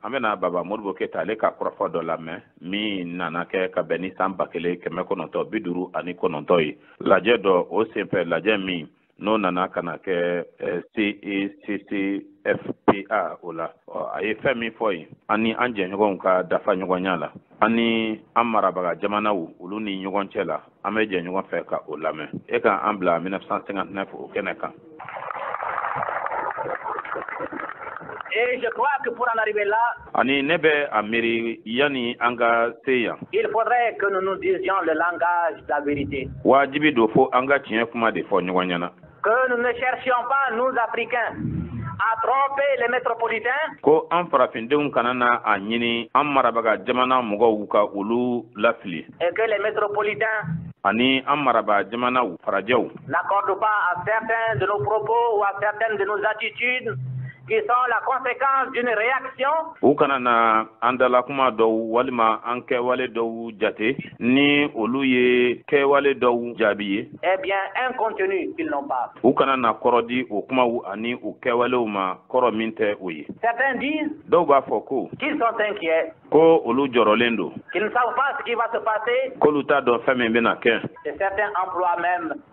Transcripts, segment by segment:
an bɛna baba modibo keyita ale ka kɔrɔfɔ dɔ lamɛn min nana kɛ ka bɛn ni san ba kelen kɛmɛ kɔnɔntɔ bi duuru ani kɔnɔntɔ ye lajɛ dɔ o senfɛ lajɛ min n'o nana ka na kɛ ceccfpa o la a ye fɛn min fɔ yen an ni an jɛɲɔgɔnw ka dafa ɲɔgɔnya la an ni an marabaga jamanaw olu ni ɲɔgɔn cɛ la an bɛ jɛ ɲɔgɔn fɛ ka o lamɛn e ka an bila 1959 o kɛnɛ kan Et je crois que pour en arriver là, ani ne bɛ a miiri yanni an ka se yan il faudrait que nous nous disions le langage de la vérité. waajibi don fo an ka tiɲɛ kuma de fɔ ɲɔgɔn ɲɛna Que nous ne cherchions pas, nous Africains, à tromper les métropolitains. Ko an farafindenw kana na a ɲini an marabaga jamana mɔgɔw ka olu lafili. Et que les métropolitains ani an marabaga jamanaw farajɛw n'accordent pas à certains de nos propos ou à certaines de nos attitudes qui sont la conséquence d'une réaction. U kana na an dalakuma dɔw walima an kɛwale dɔw jate. ni olu ye kɛwale dɔw jaabi ye eh bien un contenu qu'ils n'ont pas u kana na kɔrɔ di o kumaw ani o kɛwalew ma kɔrɔ min tɛ o ye certains disent dɔw b'a fɔ ko qu'ils sont inquiets ko olu jɔrɔlen don qu'ils ne savent pas ce qui va se passer k'olu t'a dɔn fɛn min bɛna kɛ et certains emploient même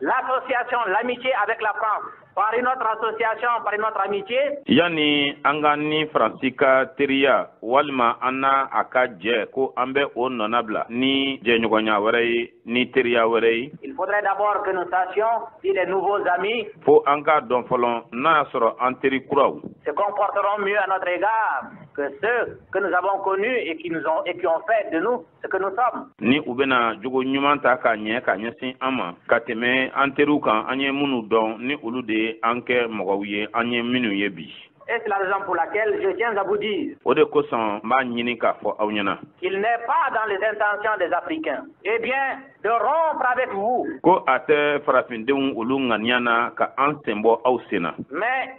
L'association l'amitié avec la France par une autre association par une autre amitié. Yanni an k'an ni Faransi ka teriya walima an n'a a ka jɛ ko an bɛ o nɔna bila ni jɛɲɔgɔnya wɛrɛ ye ni teriya wɛrɛ ye. Il faudrait d'abord que nous sachions si les nouveaux amis. Fo an k'a dɔn fɔlɔ n'a y'a sɔrɔ an teri kuraw. Se comporteront mieux à notre égard que ceux que nous avons connus et qui nous ont et qui ont fait de nous ni u bɛna jogo ɲuman ta k'a ɲɛ ka ɲɛsin an ma ka tɛmɛ an teriw kan an ye minnu dɔn ni olu de ye an kɛ mɔgɔw ye an ye minnu ye bi Et c'est la raison pour laquelle je tiens à vous dire. O de kosɔn n b'a ɲini k'a fɔ aw ɲɛna. Qu'il n'est pas dans les intentions des Africains. Eh bien, de rompre avec vous. Ko a tɛ farafindenw olu ŋaniya na ka an sen bɔ aw sen na. Mais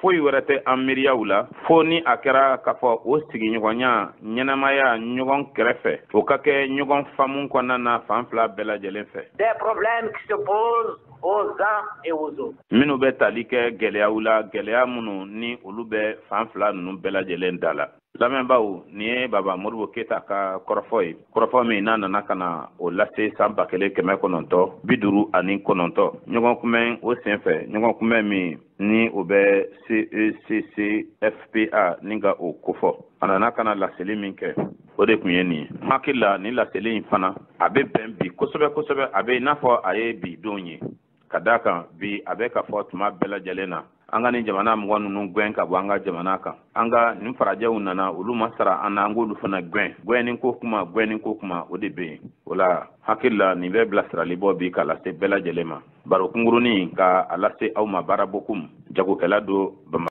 foyi wɛrɛ tɛ an miiriyaw la fo ni a kɛra k'a fɔ o sigiɲɔgɔnya ɲɛnamaya ɲɔgɔn kɛrɛfɛ o ka kɛ ɲɔgɔn faamu kɔnɔna na fan fila bɛɛ lajɛlen fɛ minnu bɛ tali kɛ gɛlɛyaw la gɛlɛya minnu ni olu bɛ fan fila ninnu bɛɛ lajɛlen da la lamɛnbaaw nin ye baba modibo keyita ka kɔrɔfɔ ye kɔrɔfɔ min n'a nana ka na o lase san ba kelen kɛmɛ kɔnɔntɔ bi duuru ani kɔnɔntɔ ɲɔgɔn kunbɛn o sen fɛ ɲɔgɔn kunbɛn min ni o bɛ ceccfpa ni ka o kofɔ a nana ka na laseli min kɛ o de tun ye nin ye n hakili la nin laseli in fana a bɛ bɛn bi kosɛbɛ kosɛbɛ a bɛ i n'a fɔ a ye bi don ye ka d'a kan bi a bɛ ka fɔ tuma bɛɛ lajɛlen na an ka nin jamana mɔgɔ ninnu gɛn ka bɔ an ka jamana kan an ka nin farajɛw nana olu ma sara an na an k'olu fana gɛn gɛnni ko kuma gɛnni ko kuma o de bɛ yen o la hakilila nin bɛ bilasirali bɔ bi ka lase bɛɛ lajɛlen ma baro kunkurunnin ka a lase aw ma baara bokum jagokɛla don bamakɔ